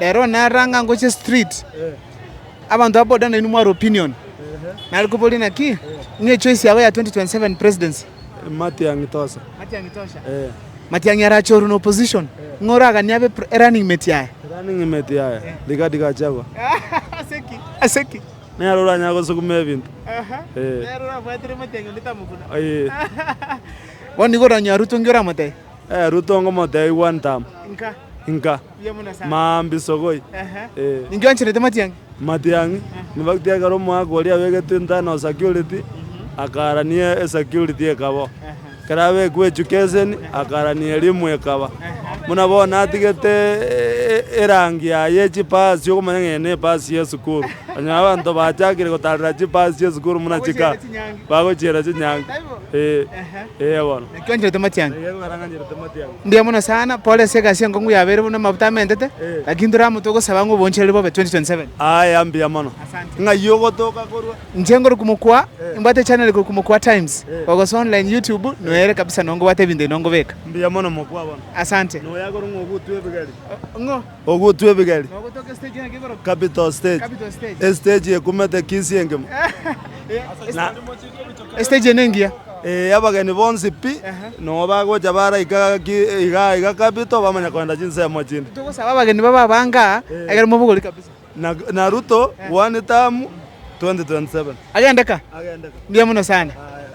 Nere one aroro ang'e agochia street, abanto ba boda nainwe mware opinion. Nare koboria naki? Ng'a echoice yabo ya 2027 presidency? Matiang'i tosha. Matiang'i tosha. Matiang'i arachorwe na opposition. Ng'a oraganie abe running mate yaye. Running mate yaye. Rigathi Gachagua. Ase ki? Ase ki? Nere oranyare gosukuma ebinto. Nere orabwatire Matiang'i onde tamokuna. Ee. Bono nigo oranyora Ruto ng'io oramotebia? Ruto ngomotebia one term. Nka. Nka. Maambia isogoi. Ee. Matiang'i. Infact ekero omogaka oria abegetwe internal security, akarania esecurity ekaba oo. Ekero abekwa education, akarania elimu ekaba. Buna bono natigete erangi yaye chipasi okomanya ng'a eye nepasi yesukuru. Onye abanto bachakire gotarera chipasi chiesukuru buna chika, bagochiera chinyangi. Ee. Ee bono. Ekero orangancherete matiang'i. Mbuya mono sana, Pole ase egasi enkong'u yabeire buna amabuta amentete, lakini tore amo togosaba ng'a obonchereri bobe 2027. Aya mbuya mono. Asante. Ng'ai ogotoka korwa? Inche ngore kumokwa, imbwate echaneli kore kumokwa times, gogosa online youtube, noere kabisa nongo bwate ebinto ebi nongo beka. Mbuya mono mokwa bono. Asante. Noyakorwa ng'a ogutwa ebigari. Ng'o? Ogutwa ebigeri. Capital stage. Estage ekumete kisi engima. Estage ene engiya. Ee abageni bonsi pi, nonya bagocha baraika gaki igaa iga capital bamanya kogenda chinsemo chinde. Togosaba abageni babe abangaa ekero mobogori kabisa. Na na Ruto one term 2027. Agende ka? Agende ka. Mbuya mono sana.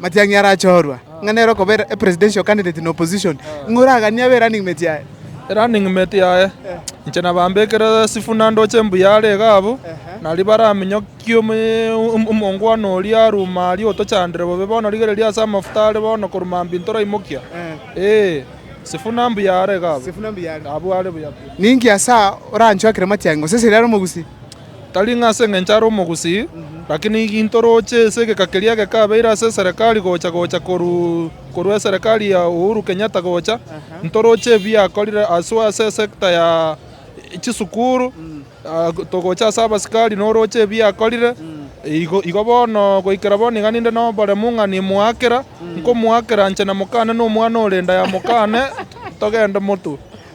Matiang'i arachoorwa ng'a nere okoba a presidential candidate in opposition, ng'a oraganie abe running mate yaye. Running mate yaye. Inche nabambekire Sifuna ndoche embuya are iga abwo, nario baraminyokie omongwana oria aruma aria otochandire bobe. Bono rigereria ase amafuta are bono korwa mambia intoraimokia. Ee, Sifuna mbuya are iga abwo. Abwo are buya pi. Ninki ase aa oranchwakire matiang'i, gose seria are omogusii? Tari ng'a ase engencho are omogusii, lakini ginto roche ase egeka keria gekabeire ase eserekari gocha gocha korwa eserekari ya Uhuru Kenyatta gocha, ntoroche ebiakorire haswa ase esector ya chisukuru, togocha ase abasikari noroche ebiakorire, igo bono goikera bono iga ninde noboremu ng'a nimoakera, nkomoakera inche namokane na omwana ore inda ya mokane togende motwe.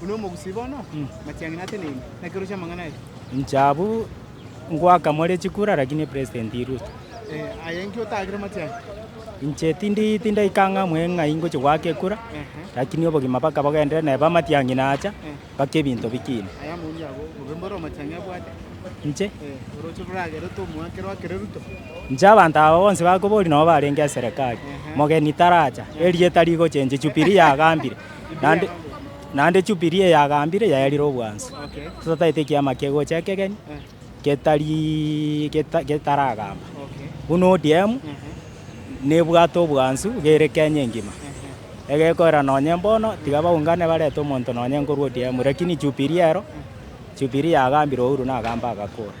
Buna omogusii bono machiang'ina ateneine, nakeroche amang'ana aye. Inche abwo ngoaka more chikura lakini president Ruto. Eh, aye inki otaakire machiang'ina? Inche tindi tindaika ng'a mwe ng'ai ngochi goaka ekura lakini obogima baka bogendere nebe amatiang'ina acha baka ebinto bikine. Aye amaundi abo bobe mbore omachiang'ina abwate. Inche Eh, oroche roragere tomoakere oakere Ruto. inche abanto aba bonsi bakobori nabo barenge eserekari mogeni taracha erieta rigochenche Jubilee yagambire Naende, naende Jubili eyagambire yaerire obwansu. Totaete ekiama kegocha ekegeni getari geta- getaragamba. Buna ODM nebwate obwansu gere Kenya engima. Egekorera nonye mbono tiga baungane barete omonto nonye nkorwa ODM lakini Jubili ero, Jubili yagambire Uhuru nagambe agakora.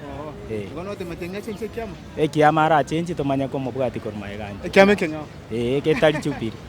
Eh. Bono otemete ng'a chenche ekiama? Ekiama arachenchi tomanye komobwati korwa magega ande. Ekiama ekenyoro. Ee, getari Jubili.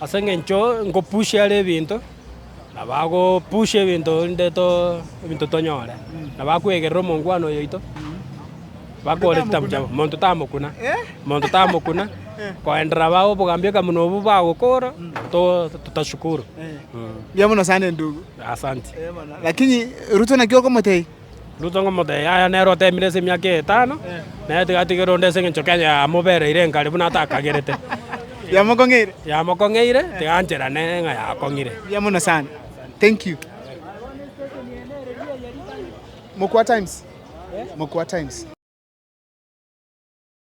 Ase engencho ngopush are ebinto, na bagopush ebinto inde to ebinto tonyore, na bakwegerera omongwana oyo oito, bakore chitabu chiabo, monto tamokuna, monto tamokuna, koenderera abao obogambi eka buna obwo bagokora, to- totashukuru. Mbuya mono sana endugu. Asante. Lakini Ruto naki okomotebia? Ruto ng'omotebia, Yaya, nere oteemire ase emiaka etano, na ere tigatigere onde ase engencho Kenya yamobereire enkari buna atakagerete. Yamokong'eire. Yamokong'eire, tiganchera nere ng'a yakong'ire. Mbuya mono sana. Thank you. Mokwa Times. Mokwa Times.